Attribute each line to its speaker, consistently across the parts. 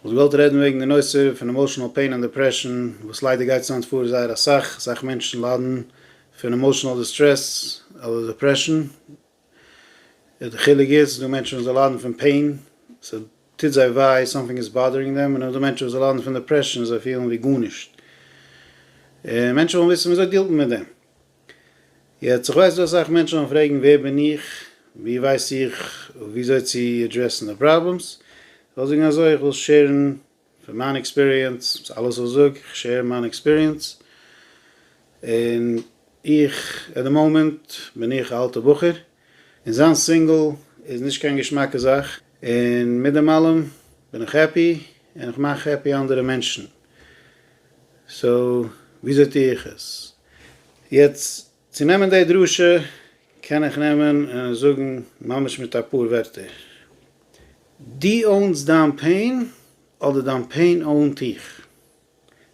Speaker 1: וואלט געוואלט רעדן וועגן די נושא פון עמאושענעל פעין און דעפרעשאן, וואס ליידער גייט עס היינט פאר זייער אסאך, אסאך מענטשן ליידן פון עמאושענעל דיסטרעס אדער דעפרעשאן, די חילוק איז ס'איז דא מענטשן וואס זיי ליידן פון פעין, ס'טוט זיי וויי, סאמטינג איז באדערינג דעם, און נאך דא מענטשן וואס זיי ליידן פון דעפרעשאן, זיי פילן ווי גארנישט, און מענטשן ווילן וויסן וויאזוי דילט מען מיט דעם. יעצט איך ווייס דא אסאך מענטשן וועלן פרעגן ווער בין איך, ווי ווייס איך וויאזוי צו עדרעסן די פראבלעמס, איך וועל זאגן אזוי, איך וויל שעירן פון מיין עקספיריענס, ס'איז אלעס וואס איך זאג, איך שעיר מיין עקספיריענס, און איך, עט די מאמענט בין איך א אלטע בחור, און זיין סינגל איז נישט קיין געשמאקע זאך, און מיט דעם אלעם בין איך העפי, און איך מאך העפי אנדערע מענטשן, סאו וויאזוי טו איך עס? יעצט צו נעמען די דרשה קען איך נעמען און זאגן ממש מיט אפאר ווערטער, דו אוינס דיין פעין אדער דיין פעין אוינט דיך?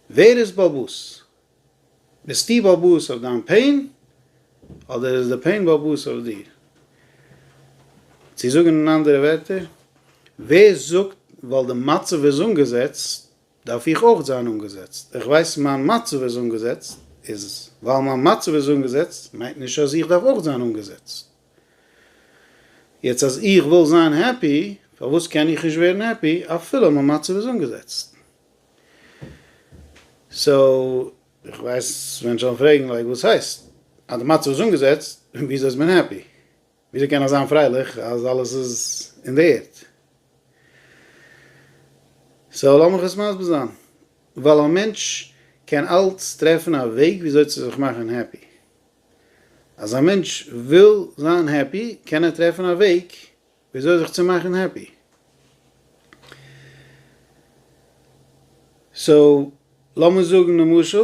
Speaker 1: ווער איז באבוס? ביסטו באבוס אויף דיין פעין אדער איז די פעין באבוס אויף דיר? צו זאגן אין אנדערע ווערטער, ווער זאגט ווייל די מצב איז אנגעזעצט, דארף איך אויך זיין אנגעזעצט. איך ווייס מיין מצב איז אנגעזעצט, איז ווייל מיין מצב איז אנגעזעצט מיינט נישט אז איך דארף אויך זיין אנגעזעצט. יעצט אז איך וויל זיין העפי, פארוואס קען איך נישט ווערן העפי אפילו מיין מצב איז אנגעזעצט? סאו. איך ווייס מענטשן וועלן פרעגן לייק וואס הייסט? אז די מצב איז אנגעזעצט, וויאזוי איז מען העפי? וויאזוי קען איך זיין פרייליך אז אלעס איז אין די ערד? סאו לאמיך עס מסביר זיין. ווייל א מענטש קען אלץ טרעפן א וועג וויאזוי צו זיך מאכן העפי. אז א מענטש וויל זיין העפי קען ער טרעפן א וועג וויאזוי זיך צו מאכן העפי. סאו לאמיר זאגן למשל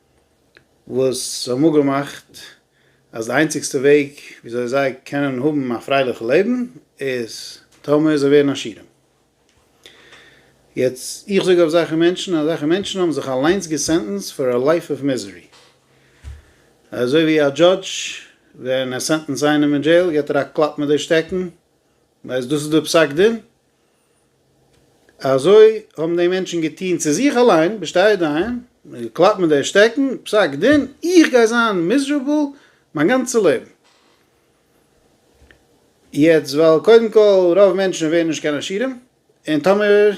Speaker 1: וואס האבן אפגעמאכט אז די איינציגסטע וועג וויאזוי זיי קענען האבן א פרייליכע לעבן איז טאמער זיי ווערן עשירים. יעצט איך זאג אזעלכע מענטשן, אזעלכע מענטשן האבן זיך אליינס געסענטענסד פאר א לייף אוו מיזערי. אזוי ווי א דזשאדזש ווען ער סענטענסט איינעם אין דזשעיל גיבט ער א קלאפ מיט די שטעקן, ווייל דאס איז די פסק דין, אזוי האבן די מענטשן געטון צו זיך אליין, בשתי ידיים, געקלאפט מיט די שטעקן, פסק דין, איך גיי זיין מיזשערבל מיין גאנצע לעבן. יעצט ווייל קודם כל רוב מענטשן ווערן נישט קיין עשירים, און טאמער ער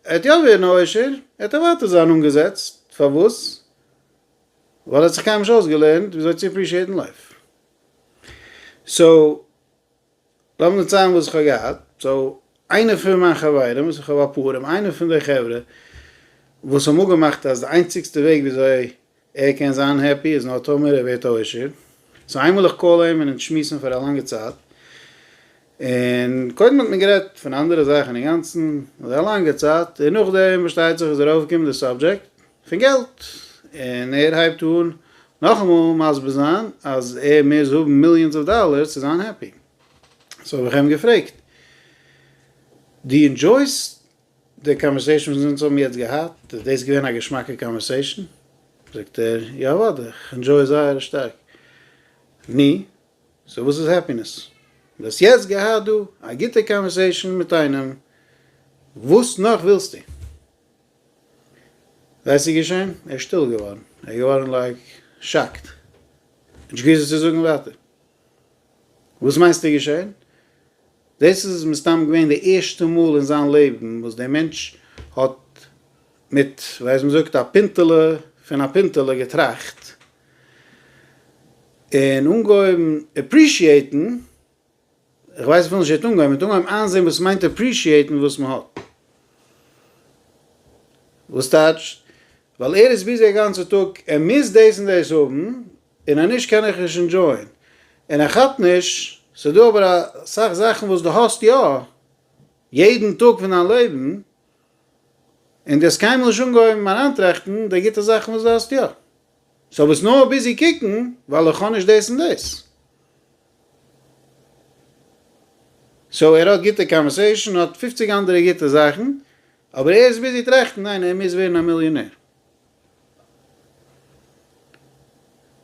Speaker 1: וועט יא ווערן א עושר, וועט ער ווייטער זיין אנגעזעצט, פארוואס? ווייל ער האט זיך קיינמאל נישט אויסגעלערנט וויאזוי צו עפרישיעטן לייף. סאו. לאמיר נישט ציילן וואס איך האב געהאט, סאו איינער פון מיין חברים, וואס איך האב אפאר, און איינער פון די חברה וואס האבן אפגעמאכט אז די איינציגסטע וועג וויאזוי ער קען זיין העפי איז נאר טאמער ער ווערט א עשיר, סאו איינמאל איך קאל אים און אונז שמועסן פאר א לאנגע צייט, און קודם האט מען גערעדט פון אנדערע זאכן אינגאנצן, אדער א לאנגע צייט, און נאכדעם פארשטייט זיך איז ער אויפגעקומען די סאבדזשעקט, פון געלט, און ער הייבט אן נאכאמאל מסביר זיין אז ער מוז האבן מיליאנס אוו דאלערס צו זיין העפי, סאו האב איך אים געפרעגט, דו אינדזשויסט די קאנווערסעישן וואס אונז האבן יעצט געהאט? איז דאס געווען א געשמאקע קאנווערסעישן? זאגט ער, יא אוודאי, איך אינדזשוי עס זייער שטארק. נו, סאו וואס איז העפינעס? דו האסט יעצט געהאט דא א גוטע קאנווערסעישן מיט איינעם, וואס נאך ווילסטו? וואס איז געשען? ער איז שטיל געווארן, ער איז געווארן לייק שאקט, נישט געוואוסט וואס צו זאגן ווייטער. וואס מיינסטו איז געשען? דאס איז מסתם געווען די ערשטע מאל אין זיין לעבן וואס דער מענטש האט מיט ווייז מען זאגט א פינטעלע פון א פינטעלע געטראכט, און אנגעהויבן עפרישיעיטן. איך ווייס איך וויל נישט יעצט אנגיין, מ'וועט אנהייבן איינזעהן וואס מיינט אפרישיעטן וואס מ'האט. וואס טייטש? ווייל ער איז ביזי א גאנצע טאג, ער מוז דאס און דאס האבן, און אז נישט קען איך נישט אינדזשויען. און ער כאפט נישט, ס'דא אבער אסאך זאכן וואס דו האסט יא, יעדן טאג פון דיין לעבן, און דו האסט קיינמאל נישט אנגעהויבן אריינטראכטן די גוטע זאכן וואס דו האסט יא. סאו ביסט נאר ביזי קוקן, ווייל איך האב נישט דאס און דאס. סאו ער האט גוטע קאנווערסעישן, האט פופציג אנדערע גוטע זאכן, אבער ער איז ביזי טראכטן ניין ער מוז ווערן א מיליאנער.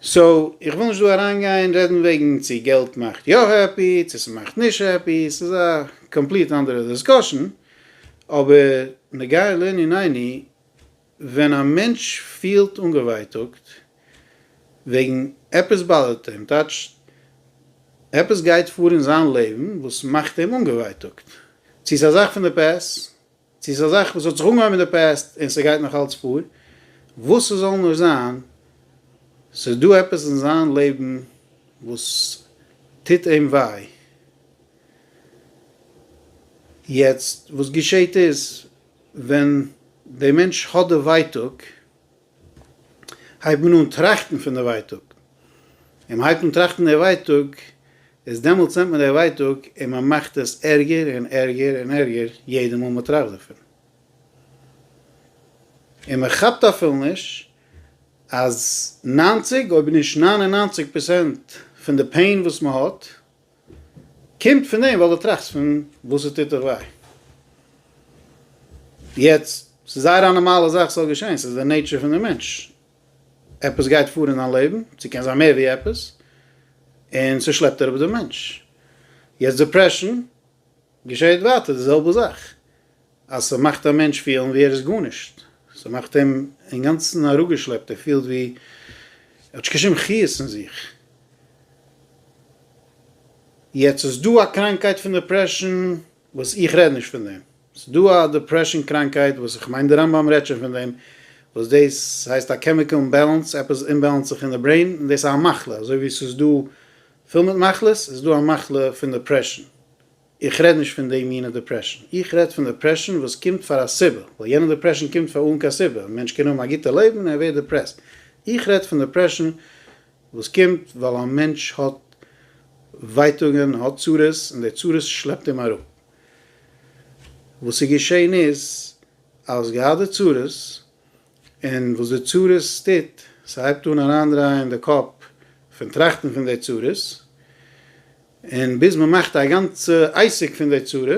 Speaker 1: סאו איך וויל נישט דא אריינגיין רעדן וועגן צו געלט מאכט יא העפי צו ס'מאכט נישט העפי, ס'איז א קאמפליט אנדערע דיסקאשן, אבער נוגע לענינינו, ווען א מענטש פילט אנגעווייטאגט וועגן עפעס באדערט אים, טייטש עפעס גייט פאר אין זיין לעבן וואס מאכט אים אנגעווייטאגט, צו ס'איז א זאך פון די פעסט, צו ס'איז א זאך וואס האט זיך אנגעהויבן אין די פעסט און ס'גייט נאך אלץ פאר, וואס ס'זאל נאר זיין, ס'איז דא עפעס אין זיין לעבן וואס טוט אים וויי. יעצט וואס געשעהט איז, ווען די מענטש האט די ווייטאג הייבט מען אן טראכטן פון די ווייטאג, און מען הייבט אן טראכטן די ווייטאג איז דעמאלטס נעמט מען די ווייטאג און מען מאכט עס ערגער און ערגער און ערגער יעדע מאל מען טראכט דערפון, און מען כאפט אפילו נישט אז נײַנציק אויב נישט נײַן און נײַנציק פראצענט פון די פעין וואס מען האט, קומט פון דעם ווייל דו טראכסט פון וואס עס טוט דיך וויי. יעצט, ס'איז זייער א נארמאלע זאך ס'זאל געשען, ס'איז די נעיטשער פון די מענטש. עפעס גייט פאר אין דיין לעבן, ס'קען זיין מער ווי עפעס, און ס'שלעפט אראפ די מענטש. יעצט דעפרעשן, געשעהט ווייטער די זעלבע זאך, אז ס'מאכט א מענטש פילן ווי ער איז גארנישט, ס'מאכט אים אינגאנצן אראפגעשלעפט, ער פילט ווי ער האט נישט קיין שום חיות אין זיך. יעצט איז דא א קראנקייט פון דעפרעשאן וואס איך רעד נישט פון דעם, ס'דא א דעפרעשאן קראנקייט וואס איך מיין די רמב ם רעדט שוין פון דעם, וואס דאס הייסט א קעמיקעל אימבעלענס, עפעס אומבעלענס זיך אין די ברעין, און דאס איז א מחלה, אזוי ווי ס'איז דא פיל מיט מחלות, איז דא א מחלה פון דעפרעשאן, איך רעד נישט פון די מינע דעפרעשאן, איך רעד פון דעפרעשאן וואס קומט פאר א סיבה, ווייל יענע דעפרעשאן קומט פאר אן קיין סיבה, א מענטש קען האבן א גוטע לעבן און ער ווערט דעפרעסט, איך רעד פון דעפרעשאן וואס קומט ווייל א מענטש האט ווייטאגען, האט צרות, און די צרות שלעפט אים אראפ. וואס איז געשען איז, אז געהאט די צרות, און וואס די צרות טוט, ס'הייבט אן אריינדרייען די קאפ פון טראכטן פון די צרות, און ביז מ'מאכט א גאנצע עסק פון די צרה,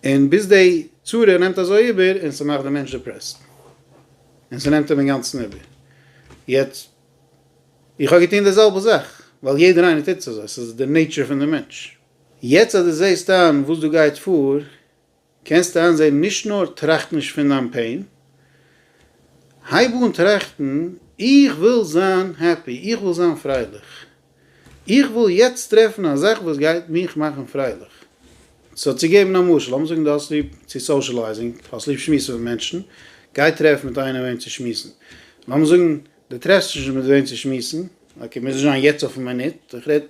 Speaker 1: און ביז די צרה נעמט אזוי איבער און ס'מאכט די מענטש דיפרעסט, און ס'נעמט אים אינגאנצן איבער. יעצט, איך האב געטון די זעלבע זאך, ווייל יעדער איינער טוט עס אזוי, ס'איז די נעיטשער פון די מענטש. יעצט אז דו זעסט איין וואס דא גייט פאר, קענסט איינזעהן נישט נאר טראכט נישט פון דיין פעין, הייב אן טראכטן איך וויל זיין העפי, איך וויל זיין פרייליך, איך וויל יעצט טרעפן א זאך וואס גייט מיך מאכן פרייליך. סאו צו געבן א משל, לאמיר זאגן דו האסט ליב צו סאושעלייזינג, האסט ליב שמועסן מיט מענטשן, גיי טרעף מיט איינעם וועם צו שמועסן. לאמיר זאגן דו טרעפסט נישט מיט וועם צו שמועסן, אקעי מוז נישט זיין יעצט אויפן מינוט, איך רעד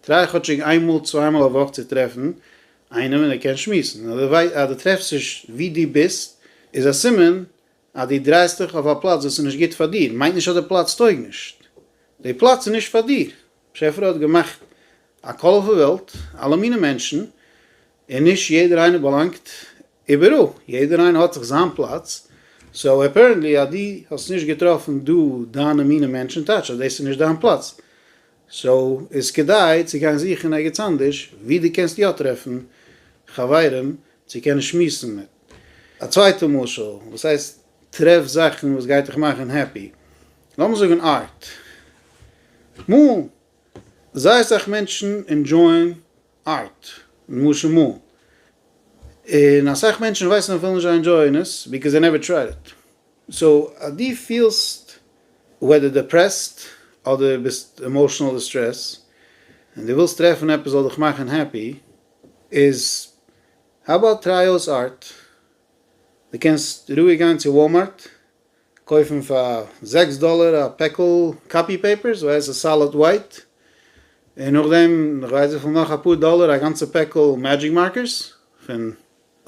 Speaker 1: טריי כאטשיג איינמאל צוויי מאל א וואך צו טרעפן איינער מיט דיר קען שמועסן, אז דו טרעפסט נישט ווי דו ביסט, איז א סימן אז דו דרייסט דיך אויף א פלאץ וואס איז נישט גוט פאר דיר, מיינט נישט אז די פלאץ טויג נישט, די פלאץ איז נישט פאר דיר, באשעפער האט געמאכט א קאלערפול וועלט, אלע מיני מענטשן, און נישט יעדער איינער באלאנגט איבעראל, יעדער איינער האט זיך זיין פלאץ, סאו אפערענטלי אז דו האסט נישט געטראפן דא דיינע מיני מענטשן, טייטש אז דאס איז נישט דיין פלאץ, סאו איז כדאי צו גיין זוכן ערגעץ אנדערש ווי דו קענסט יא טרעפן חברים צו קענען שמועסן מיט. א צווייטע משל, וואס הייסט טרעף זאכן וואס גייט דיך מאכן העפי? לאמיר זאגן ארט. מאלן. זייער אסאך מענטשן ענדזשויען ארט, למשל מאלן. און אסאך מענטשן ווייסן אז זיי ווילן נישט זיי ענדזשויען עס, ביקאוז זיי נעווער טרייד איט. סאו אז דו פילסט וועדער דעפרעסט אדער ביסט עמאושענעל דיסטרעס און דו ווילסט טרעפן עפעס זאל דיך מאכן העפי איז האו אבאוט טריי אויס ארט. דו קענסט רואיג גיין צו וואלמארט קויפן פאר זעקס דאלער א פעקל קאפי פעיפערס ווייס און סאליד ווייט און נאכדעם נאך כ'ווייס וויפיל נאך אפאר דאלער א גאנצע פעקל מעדזשיק מארקערס פון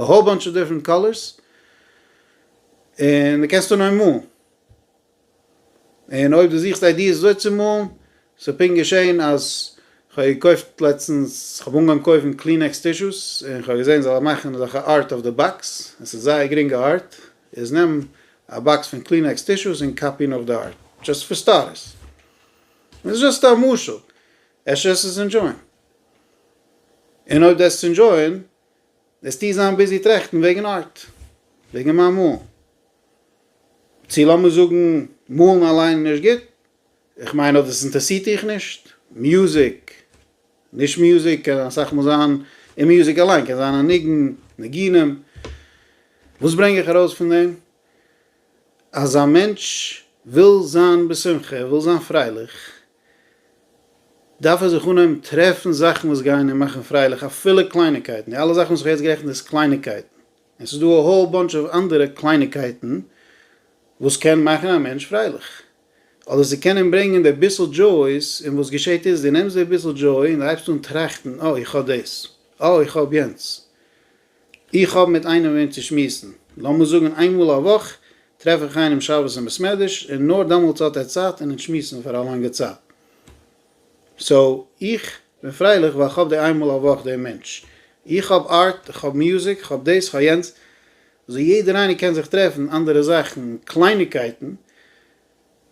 Speaker 1: א האול באנטש אוו דיפרענט קאלערס, און די קענסט אנהייבן מאלן, און אויב די זוכסט איידיעס וויאזוי צו מאלן, ס'איז פונקט געשען אז כ'האב געקויפט לעצטנס, כ'האב אנגעהויבן קויפן קלינעקס טישוס, און כ'האב געזען זיי מאכן אזעלכע ארט אויף די באקס, עס איז זייער גרינגע ארט, איז נעם א באקס פון קלינעקס טישוס און קאפי נאך די ארט, דשאסט פאר סטארטערס, און ס'איז דשאסט א משל, אפשר עסט עס ענדשויען, און אויב דו עסט עס ענדשויען, וועסטו זיין ביזי טראכטן וועגן ארט, וועגן מיין מאלן, צו לאמיר זאגן מאלן אליין איז נישט גוט, איך מיין אויב דאס אינטערעסירט דיך נישט, מוזיק, נישט מוזיק קען אסאך מאל זיין, און מוזיק אליין קען זיין א ניגון, ניגונים, וואס ברענג איך ארויס פון דעם? אז א מענטש וויל זיין בשמחה, ער וויל זיין פרייליך, דארף ער זיך אנהייבן טרעפן זאכן וואס גייען אים מאכן פרייליך אפילו קלייניקייטן, די אלע זאכן וואס איך האב יעצט גערעכנט איז קלייניקייטן, און ס'איז דא א האול באנטש אוו אנדערע קלייניקייטן וואס קען מאכן א מענטש פרייליך, אדער ס'קען אים ברענגען די ביסל דזשאויס, און וואס געשעט איז דו נעמסט די ביסל דזשאוי און דו הייבסט אן טראכטן, אה איך האב דאס, אה איך האב יענץ, איך האב מיט איינעם וועם צו שמועסן, לאמיר זאגן איין מאל א וואך טרעף איך איינעם שבת אין בעסמעדרש און נאר דעמאלטס האט ער צייט און אונז שמועסן פאר א לאנגע צייט. סאו איך בין פרייליך ווייל כ'האב די איין מאל א וואך דעם מענטש. איך האב ארט, כ'האב מוזיק, כ'האב דאס, כ'האב יענץ, סאו יעדער איינער קען זיך טרעפן אנדערע זאכן, קלייניגקייטן,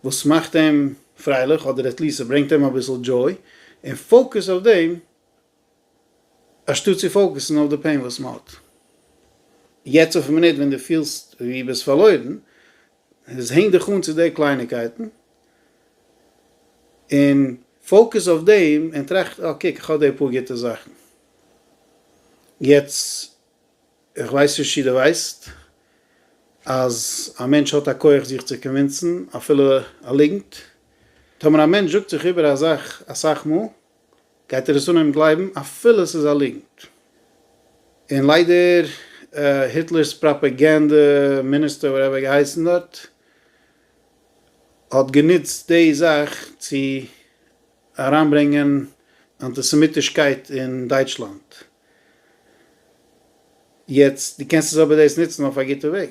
Speaker 1: וואס מאכט אים פרייליך אדער עטליסט ס'ברענגט אים אביסל דזשוי, און פאוקעס אויף דעם אנשטאט צו פאוקעסן אויף די פעין וואס מען האט יעצט אויפן מינוט ווען דו פילסט ווי ביסט פארלוירן, איז הענג דיך אן צו די קלייניקייטן און פאוקעס אויף דעם און טראכט אה קוק איך האב די פאר גוטע זאכן. יעצט איך ווייס נישט צו דו ווייסט אז א מענטש האט א כח זיך צו קאנווינסן אפילו א ליגנט. טאמער א מענטש זאגט זיך איבער א זאך אסאך מאל גייט ער עס אנהייבן גלייבן אפילו עס איז א ליגנט. און ליידער היטלער'ס פראפעגענדע מיניסטער וואטעווער ער האט געהייסן דארט האט גענוצט די זאך צו אריינברענגען אנטיסעמיטישקייט אין דייטשלאנד. יעצט דו קענסט עס אבער דאס נוצן אויף א גוטע וועג.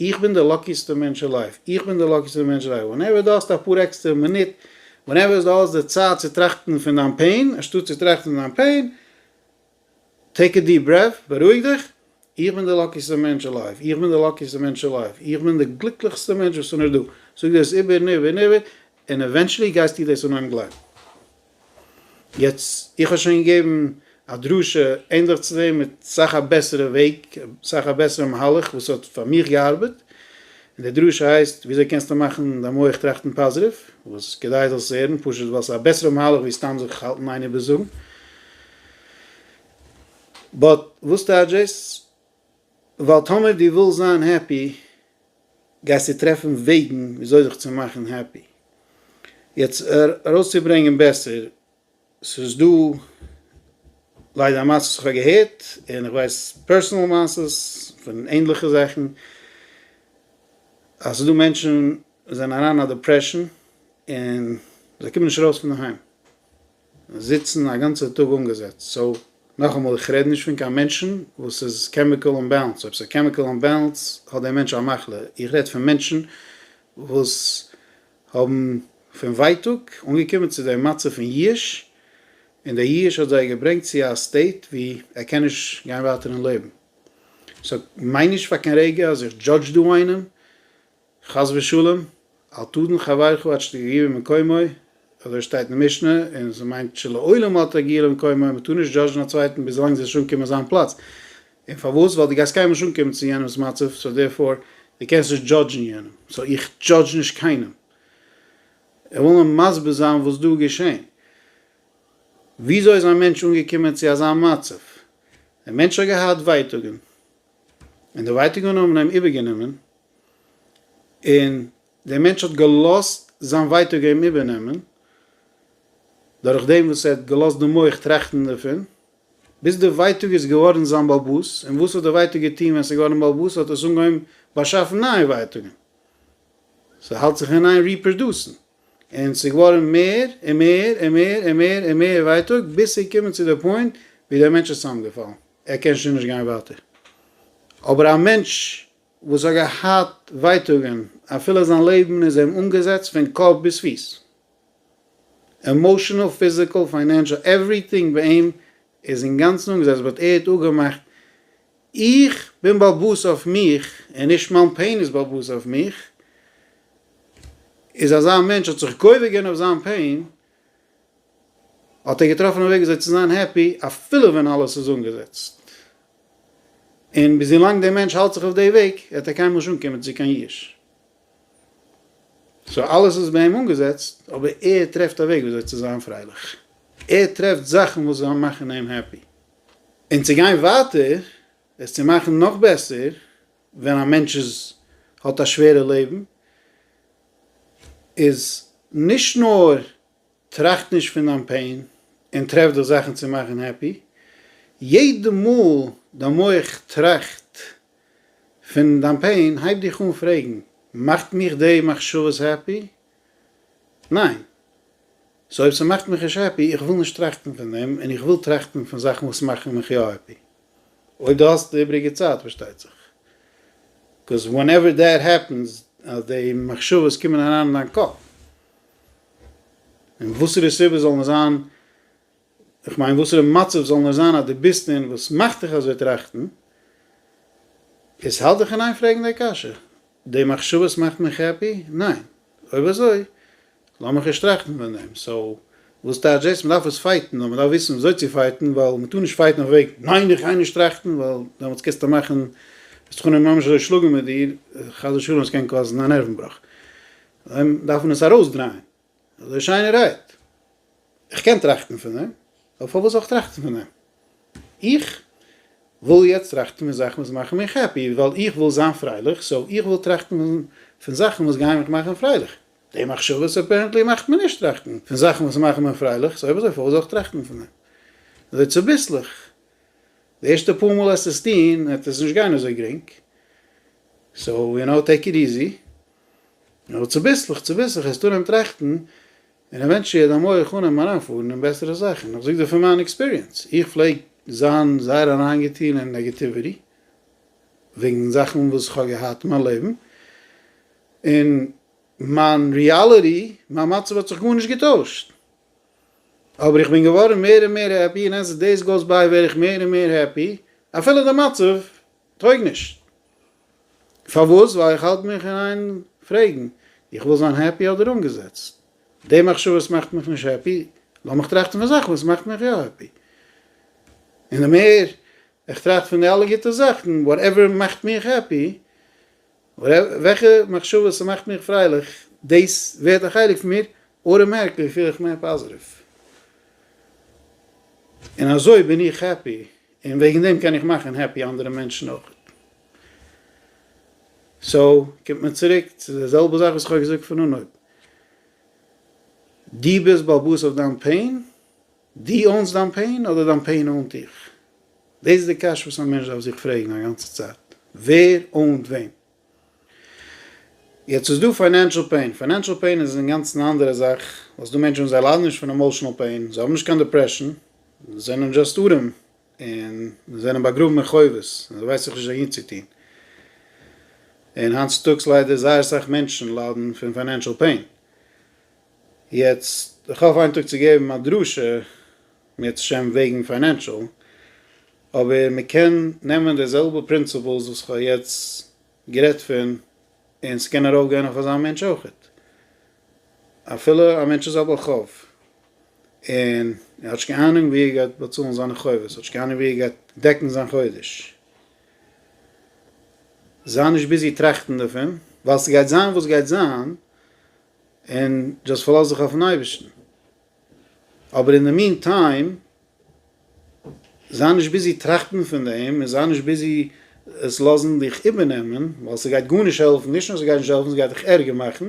Speaker 1: איך בין די לאקיסטע מענטש אין לייף, איך בין די לאקיסטע מענטש אין לייף, ווענעווער דו האסט אפאר עקסטערע מינוט, ווענעווער דו האסט די צייט צו טראכטן פון דיין פעין, אנשטאט צו טראכטן פון דיין פעין, טעיק א דיעפ ברעף, בארואיג דיך, איך בין די לאקיסטע מענטש אין לייף, איך בין די לאקיסטע מענטש אין לייף, איך בין די גליקליכסטע מענטש וואס איז נאר דא, זאג דיר עס איבער און איבער און איבער, און עווענטשעלי גייסטו דאס אנהייבן גלייבן. יעצט, איך האב שוין געגעבן א דרשה ענדליך צו דעם מיט סאך א בעסערע וועג, סאך א בעסערע מהלך וואס האט פאר מיך געארבעט, און די דרשה הייסט וויאזוי קענסטו מאכן דיין מח טראכטן פאזיטיוו, וואס כדאי זאלסט עס הערן, פשוט ווייל ס'איז א בעסערע מהלך ווי סתם זיך האלטן איין איבער זאגן. באט וואס טייטש דאס? ווייל טאמער דו ווילסט זיין העפי גייסטו טרעפן וועגן וויאזוי זיך צו מאכן העפי. יעצט ארויסצוברענגען בעסער, ס'איז דא ליידער מעשות וואס כ'האב געהערט, און איך ווייס פערסענעל מעשות פון ענדליכע זאכן, אז ס'איז דא מענטשן וואס זענען אריין אין א דעפרעשאן, און זיי קומען נישט ארויס פונדערהיים. און זיצן א גאנצער טאג אנגעזעצט, סאו נאכאמאל איך רעד נישט פון קיין מענטשן וואס איז קעמיקעל אנבעלענסד, אויב ס'איז קעמיקעל אנבעלענסד האט דער מענטש א מחלה, איך רעד פון מענטשן וואס האבן פון ווייטאג אנגעקומען צו דעם מצב פון יאוש, און דער יאוש האט זיי געברענגט צו א סטעיט ווי ער קען נישט גיין ווייטער אין לעבן, סאו מיין נישט פאר קיין רגע אז איך דזשאדזש דא איינעם, חס ושלום, אל תדון חברך עד שתגיע למקומו, אזוי שטייט אין די משנה, און ס'מיינט שלעולם אל תגיע למקומו, מ'טאר נישט דזשאדזשן א צווייטן ביז ווילאנג זי וועט נישט אנקומען אין זיין פלאץ, און פארוואס? ווייל דו גייסט קיינמאל נישט אנקומען צו יענעמ'ס מצב, סאו דערפאר, דו קענסט נישט דזשאדזשן יענעם, סאו איך דזשאדזש נישט קיינעם. איך וויל נאר מסביר זיין וואס דא איז געשען. וויאזוי איז א מענטש אנגעקומען צו אזא מצב? דער מענטש האט געהאט ווייטאגן. און די ווייטאגען האבן אים איבערגענומען, און דער מענטש האט געלאזט זיין ווייטאג אים איבערנעמען, דורך דעם וואס ער האט געלאזט די מח טראכטן דערפון, ביז די ווייטאג איז געווארן זיין באלבאס, און וואס האט די ווייטאג געטון ווען עס איז געווארן באלבאס, האט עס אנגעהויבן באשאפן נייע ווייטאגען, ס'האלט זיך אין איין ריפראדוסן. און ס'איז געווארן מער און מער און מער און מער און מער ווייטאג, ביז ס'איז געקומען צו די פוינט ווי דער מענטש איז צוזאמגעפאלן, ער קען שוין נישט גיין ווייטער. אבער א מענטש וואס האט געהאט ווייטאגן אפילו זיין לעבן איז אים אנגעזעצט פון קאפ ביז פיס, עמאושענעל, פיזיקעל, פיינענשעל, עווריטינג ביי אים ער איז אינגאנצן אנגעזעצט באט ער האט אפגעמאכט איך בין באלבאס אויף מיך און נישט מיין פעין איז באלבאס אויף מיך, איז אזא מענטש האט זיך גובר געווען אויף זיין פעין האט ער געטראפן א וועג וויאזוי צו זיין העפי אפילו ווען אלעס איז אנגעזעצט און ביז ווילאנג דער מענטש האלט זיך אויף די וועג וועט ער קיינמאל נישט אנקומען צו קיין יאוש. סאו אלעס איז ביי אים אנגעזעצט, אבער ער טרעפט א וועג וויאזוי צו זיין פרייליך, ער טרעפט זאכן וואס זאלן מאכן אים העפי. און צו גיין ווייטער, עס צו מאכן נאך בעסער, ווען א מענטש איז האט א שווערע לעבן, איז נישט נאר טראכט נישט פון דיין פעין, און טרעף דיך זאכן צו מאכן העפי, יעדע מאל דיין מח טראכט פון דיין פעין הייב דיך אן פרעגן, מאכט מיך די מחשבות העפי? ניין. סאו אויב ס'מאכט מיך נישט העפי, איך וויל נישט טראכטן פון דעם, און איך וויל טראכטן פון זאכן וואס מאכן מיך יא העפי. אויב דו האסט די איבריגע צייט, פארשטייט זיך. קאוז ווענעווער דעט העפענס, אז די מחשבות קומען אריין אין דיין קאפ, און וואסערע סיבה זאל מען זיין, איך מיין וואסערע מצב זאל נאר זיין אז דו ביסט און וואס מאכט דיך אזוי טראכטן? איז האלט דיך אין איין פרעגן די קשיא, די מחשבות מאכט מיך העפי? ניין? אויב אזוי לאמיך נישט טראכטן פון דעם. סאו וואס טייטש דאס? מען דארף עס פייטן נאר מען דארף וויסן וויאזוי צו פייטן ווייל מען טאר נישט פייטן אויף וועג ניין איך גיי נישט טראכטן ווייל דעמאלטס קענסטו מאכן וועסטו חנם ממש אזוי שלאגן מיט דיר חס ושלום עס קען קאזן א נערוון בראך. דארף מען עס ארויסדרייען. אזוי שיין ער רעדט. איך קען טראכטן פון דעם, אבער פארוואס זאל איך טראכטן פון דעם? איך וויל יעצט טראכטן פון זאכן וואס מאכן מיך העפי, ווייל איך וויל זיין פרייליך, סאו איך וויל טראכטן פון זאכן וואס גייען מיך מאכן פרייליך. די מחשבות אפערענטלי מאכט מיר נישט טראכטן פון זאכן וואס מאכן מיר פרייליך, סאו אויב אזוי פארוואס זאל איך טראכטן פון דעם? אזוי צוביסלעך. די ערשטע פאר מאל העסטו עס טון וועט עס נישט גיין אזוי גרינג, סאו יו נאו טעיק איט איזי. אבער צוביסלעך צוביסלעך העסטו אן טראכטן און עווענטשיעל דיין מח אן אים אריינפארן אין בעסערע זאכן, איך זאג דיר פון מיין עקספיריענס, איך פלעג זיין זייער אריינגעטון אין נעגעטיוויטי וועגן זאכן וואס כ'האב געהאט אין מיין לעבן, און מיין ריאליטי, מיין מצב האט זיך גארנישט געטוישט, אבער איך בין געווארן מער און מער העפי און עז דעיס גאוס ביי ווער איך מער און מער העפי אפילו די מצב טויג נישט. פארוואס? ווייל איך האלט מיך אין איין פרעגן, איך וויל זיין העפי אדער אנגעזעצט? די מחשבות מאכט מיך נישט העפי, לאמיך טראכטן פון זאכן וואס מאכט מיך יא העפי. און די מער איך טראכט פון די אלע גוטע זאכן, וואטעווער מאכט מיך העפי, וועלכע מחשבות ס'מאכט מיך פרייליך דאס ווערט א חלק פון מיר, אוטאמעטיקלי פיל איך מער פאזעטיוו, און אזוי בין איך העפי, און וועגן דעם קען איך מאכן העפי אנדערע מענטשן אויך. סאו קומט מען צוריק צו די זעלבע זאך וואס כ'האב געזאגט פון אנהויב, דו ביסט באלבאס אויף דיין פעין, דו אונס דיין פעין אדער דיין פעין אונט דיך? דאס איז די קשיא וואס א מענטש דארף זיך פרעגן א גאנצע צייט, ווער אונט וועם? יעצט איז דא פיינענשעל פעין, פיינענשעל פעין איז אינגאנצן א אנדערע זאך, ווייל ס'דא מענטשן וואס זיי ליידן נישט פון עמאושענעל פעין, זיי האבן נישט קיין דעפרעשן, זיי זענען דזשאסט ארעם, און זיי זענען באגראבן אין חובות, און זיי ווייסן זיך נישט אהין צו טון. און היינט צוטאגס ליידער זייער סאך מענטשן ליידן פון פיינענשעל פעין. יעצט איך האף איין טאג צו געבן א דרשה בעזרת השם וועגן פיינענשעל, אבער מען קען נעמען די זעלבע פרינציפלס וואס כ'האב יעצט גערעדט פון און ס'קען ארויף גיין אויף אזא מענטש אויכעט, אפילו א מענטש איז א בעל חוב און ער האט נישט קיין אהנונג ווי ער גייט באצאלן זיינע חובות, האט נישט קיין אהנונג ווי ער גייט דעקן זיין חודש, זיי נישט ביזי טראכטן דערפון ווייל ס'גייט זיין וואס גייט זיין, און דזשאסט פארלאז דיך אויפן אייבערשטן, אבער אין די מין טיים זיי נישט ביזי טראכטן פון דעם, און זיי נישט ביזי עס לאזן דיך איבערנעמען, ווייל ס'גייט גארנישט העלפן, נישט נאר ס'גייט נישט העלפן, ס'גייט דיך ערגער מאכן,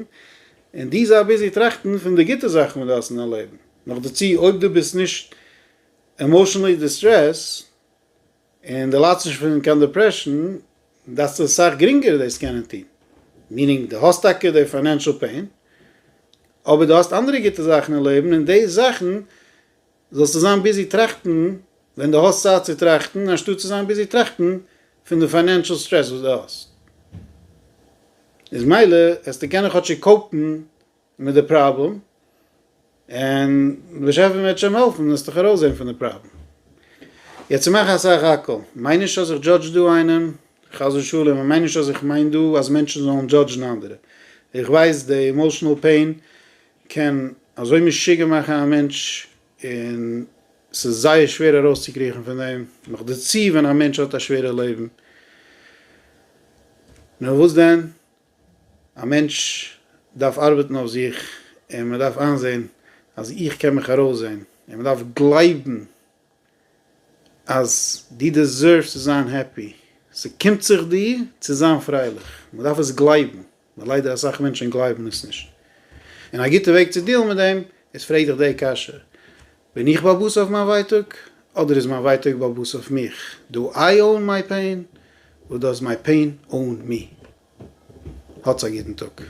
Speaker 1: און דו זיי ביזי טראכטן פון די גוטע זאכן וואס דו האסט אין דיין לעבן, נאכדערצו אויב דו ביסט נישט עמאשענלי דיסטרעסט, און די ליידסט נישט פון קיין דעפרעשאן, דארפסטו אסאך גרינגער דאס קענען טון. מיענינג, די האסט טאקע די פיינענשעל פעין, אבער די האסט אנדערע גוטע זאכן אין לעבן, און די זאכן זאלסטו זיין ביזי טראכטן ווען די האסט צייט צו טראכטן, אנשטאט צו זיין ביזי טראכטן פון די פיינענשעל סטרעס וואס די האסט. איז מילא העסטו קענען כאטשיג קאופן מיט די פראבלעם, און דער באשעפער וועט שוין העלפן עס דיך ארויסזען פון די פראבלעם. יעצט איך מאך א סך הכל, מיין נישט אז איך דזשאדזש דא איינעם, חס ושלום, און מיין נישט אז איך מיין דא אז מענטשן זאלן דזשאדזשן אנדערע. איך ווייס די עמאושענעל פעין קען אזוי משוגע מאכן א מענטש, און ס'איז זייער שווער ארויסצוקריכן פון דעם, נאך דערצו ווען א מענטש האט א שווערע לעבן. נאר וואס דען? א מענטש דארף ארבעטן אויף זיך און מען דארף איינזעהן אז איך קען מיך ארויסזעהן און מען דארף גלייבן אז דו דעזערווסט צו זיין העפי, ס'קומט זיך דיר צו זיין פרייליך, מען דארף עס גלייבן, נאר ליידער אסאך מענטשען גלייבן עס נישט, און א גוטע וועג צו דיעלן מיט דעם איז פרעג דיך די קשיא, בין איך באבוס אויף מיין ווייטאג? אדער איז מיין ווייטאג באבוס אויף מיך? דו איי אוון מיי פעין? או דאז מיי פעין אוון מי? האטס א גוטן טאג.